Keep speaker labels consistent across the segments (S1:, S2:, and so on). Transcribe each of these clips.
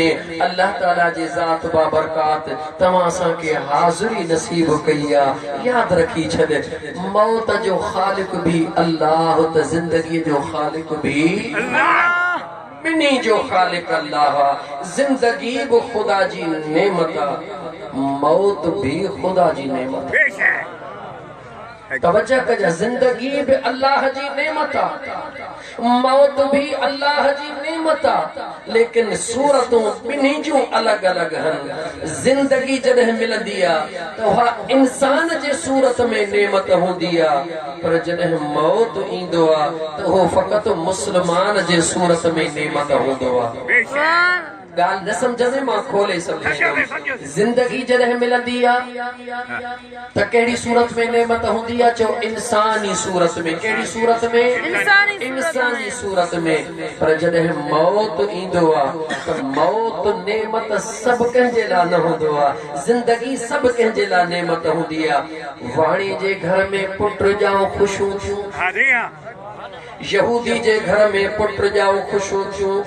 S1: ۾ الله تعالي جي ذات بابرڪات توهان اسان کي حاضري نصيب ڪئي آ ياد رکي ڇڏ موت جو خالق به الله ته زندگي جو خالق به الله ٻنهي جو خالق الله آ زندگي به خدا جي نعمت آ موت به خدا جي نعمت آ. توجه ڪجي زندگي به الله جي نعمت آ موت به الله جي نعمت آ ليڪن صورتون ٻنهي جون الڳ الڳ هن زندگي جڏهن ملندي آ ته اها انسان جي صورت ۾ نعمت هوندي آ پر جڏهن موت ايندو آ ته اهو فقط مسلمان جي صورت ۾ نعمت هوندو آ ڳالهه نه سمجهه ۾ مان کولي سمجهائيندم. زندگي جڏهن ملندي آ ته ڪهڙي صورت ۾ نعمت هوندي آ چئو انساني صورت ۾ ڪهڙي صورت ۾ انساني صورت ۾ پر جڏهن موت ايندو آ ته موت نعمت سڀ ڪنهن جي لا نه هوندو آ زندگي سڀ ڪنهن جي لا نعمت هوندي آ واڻي جي گهر ۾ پٽ ڄائو خوشون ٿيون. يهودي جي گهر ۾ پٽ ڄائو خوشيون ٿيون،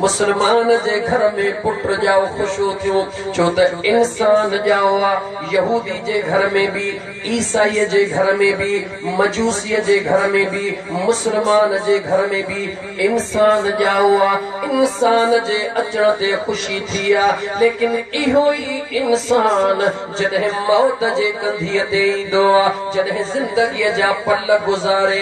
S1: مسلمان جي گهر ۾ پٽ ڄائو خوشيون ٿيون، ڇو ته انسان ڄائو آ، يهودي جي گهر ۾ به، عيسائي جي گهر ۾ به، مجوسي جي گهر ۾ به، مسلمان جي گهر ۾ به انسان ڄائو آ، انسان جي اچڻ تي خوشي ٿي آ، ليڪن اهو ئي انسان جڏهن موت جي ڪنڌيء تي ايندو آ، جڏهن زندگيء جا پل گذاري.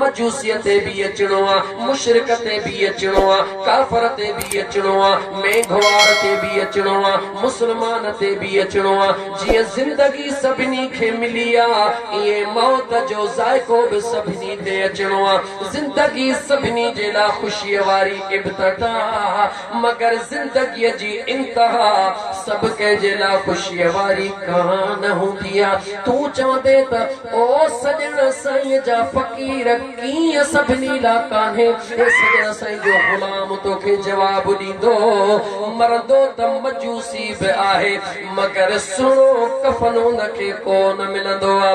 S1: مجوسيء تي به اچڻو آ، مشرڪ تي به اچڻو آ، ڪافر تي به اچڻو آ، مينگهوار تي به اچڻو آ، مسلمان تي به اچڻو آ. جيئن زندگي سڀني کي ملي آ، ائين موت جو ذائقو به سڀني تي اچڻو آ. زندگي سڀني جي لاء خوشيء واري ابتدا آ، مگر زندگيء جي انتها سڀ ڪنهن جي لاء خوشيء واري ڪانه هوندي آ. تون چوندين ته. او سڄڻ سائين جا فقير ڪيئن سڀني لا ڪانهي اي سڄڻ سائين جو غلام توکي جواب ڏيندو مرندو ته مجوسي به آهي مگر سهڻو ڪفن ان کي ڪو نه ملندو آ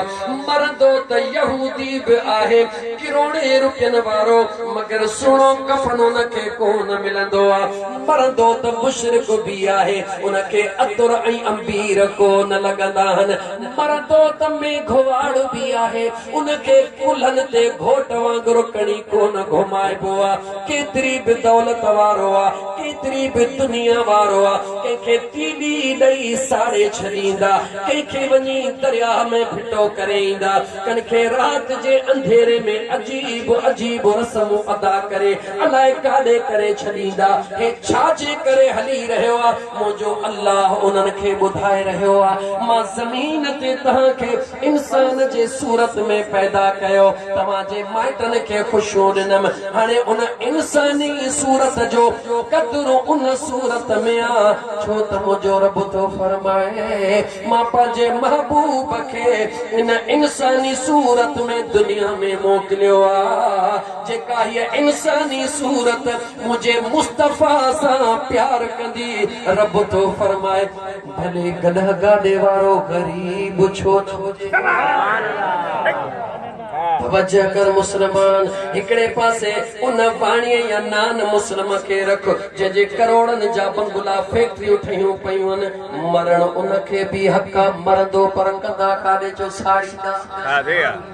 S1: مرندو ته يهودي به آهي ڪروڙين روپين وارو مگر سهڻو ڪفن ان کي ڪو نه ملندو آ مرندو ته مشرڪ به آهي ان کي عطر ۽ عنبير ڪو نه لڳندا آهن پر توت ۾ گهواڙ به آهي، ان کي ڪلهن تي گهوٽ وانگر کڻي ڪونه گهمائبو آ، ڪيتري به دولت وارو آ، ڪيتري به دنيا وارو آ، ڪنهن کي تيلي ڏئي ساڙي ڇڏيندا، ڪنهن کي وڃي درياهه ۾ ڦٽو ڪري ايندا، ڪن کي رات جي انڌيري ۾ عجيب عجيب رسمون ادا ڪري الائي ڪاڏي ڪري ڇڏيندا، هي ڇا جي ڪري هلي رهيو آ؟ منهنجو الله انهن کي ٻڌائي رهيو آ، مان زمين تي توهان کي انسان جي صورت ۾ پيدا ڪيو، توهان جي مائٽن کي خوشيون ڏنم، هاڻي ان انساني صورت جو قدر ان صورت ۾ آ، ڇو ته منهنجو رب ٿو فرمائي، مان پنهنجي محبوب کي ان انساني صورت ۾ دنيا ۾ موڪليو آ، جيڪا هيء انساني صورت منهنجي مصطفيٰ سان پيار ڪندي رب ٿو فرمائي ڀلي گڏهه گاڏي وارو غريب ڇو نه هجي. توجه ڪر مسلمان هڪڙي پاسي ان واڻيء يا نان مسلم کي رک جنهن جي ڪروڙن جا بنگلا فيڪٽريون ٺهيون پيون مرڻ ان کي به حق آ مرندو پر ڪندا ڪاڏي جو ساڙيندا.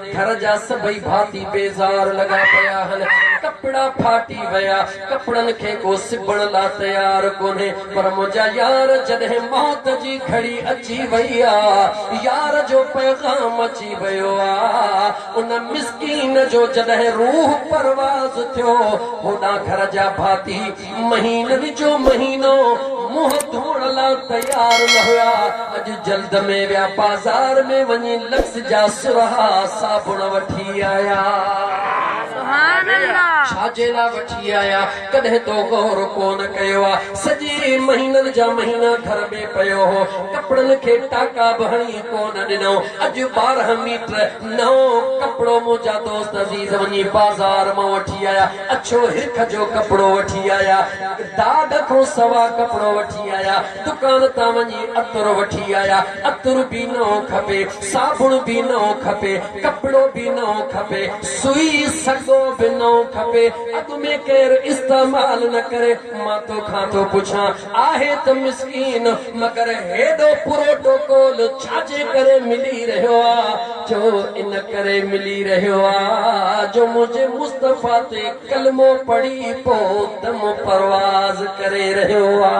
S1: گهر جا سڀئي ڀاتي بيزار لڳا پيا هن. ڪپڙا ڦاٽي ويا. ڪپڙن کي ڪو سبڻ لا تيار ڪونهي. پر منهنجا يار جڏهن موت جي گهڙي اچي وئي آ. يار جو پيغام اچي ويو آ. ان مسڪين جو جڏهن روح پرواز ٿيو. هوڏانهن گهر جا ڀاتي. مهينن جو مهينو منهن ڌوئڻ لا تيار نه هيا، اڄ جلد ۾ ويا بازار ۾ وڃي لڪس جا سرها صابڻ وٺي آيا. ڇا جي لا وٺي آيا ڪڏهن تو غور ڪونه ڪيو آ. سڄي مهينن جا مهينا گهر ۾ پيو هو ڪپڙن کي ٽاڪا به هڻي ڪونه ڏنائون اڄ ٻارهن ميٽر نئون ڪپڙو منهنجا دوست عزيز وڃي بازار مان وٺي آيا اڇو هرک جو ڪپڙو وٺي آيا، داغ کان سوا ڪپڙو وٺي آيا، دڪان تان وڃي عطر وٺي آيا، عطر به نئون کپي، صابڻ به نئون کپي، ڪپڙو به نئون کپي، سوئي سڳو به نئون کپي، اڳ ۾ ڪير استعمال نه ڪري، مان توکان ٿو پڇان، آهي ته مسڪين مگر هيڏو پروٽوڪول ڇا جي ڪري ملي رهيو آ جو ان ڪري ملي رهيو آ جو منهنجي مصطفيٰ تي ڪلمو پڙهي پو دم پرواز ڪري رهيو آ.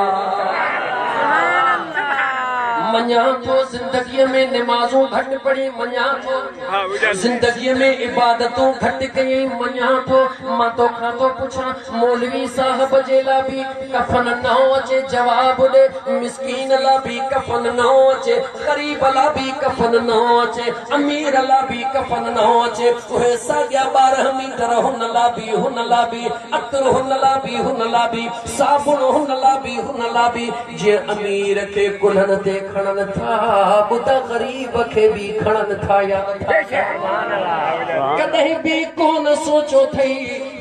S1: مڃان ٿو زندگي ۾ نمازون گهٽ پڙهي مڃان ٿو زندگي ۾ عبادتون گهٽ ڪيئي مڃان ٿو مان توکان ٿو پڇان مولوي صاحب جي لا بي ڪفن نه هو اچي جواب ڏي مسڪين لا بي ڪفن نه هو اچي غريب لا بي ڪفن نه هو اچي امير لا بي ڪفن نه هو اچي اهي ساڳيا ٻارهن ميٽر هن لا بي هن لا بي عطر هن لا بي هن لا بي صابڻ هن لا بي هن لا بي جيئن امير کي ڪلهن تي کڻن ٿا ٻڌا غريب کي بي کڻن ٿا يا نٿا ڪڏهن بي ڪونه سوچيو ٿئي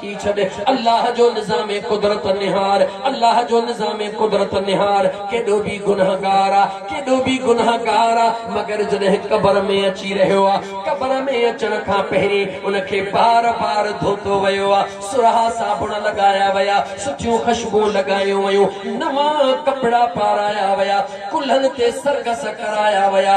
S1: ٿي ڇڏ الله جو نظام قدرت نهار الله جو نظام قدرت نهار ڪيڏو به گنهگار آ ڪيڏو به گنهگار آ مگر جڏهن قبر ۾ اچي رهيو آ قبر ۾ اچڻ کان پهرين ان کي بار بار ڌوتو ويو آ سرها صابڻ لڳايا ويا سٺيون خشبون لڳايون ويون نوان ڪپڙا پارايا ويا ڪلهن تي سرگس ڪرايا ويا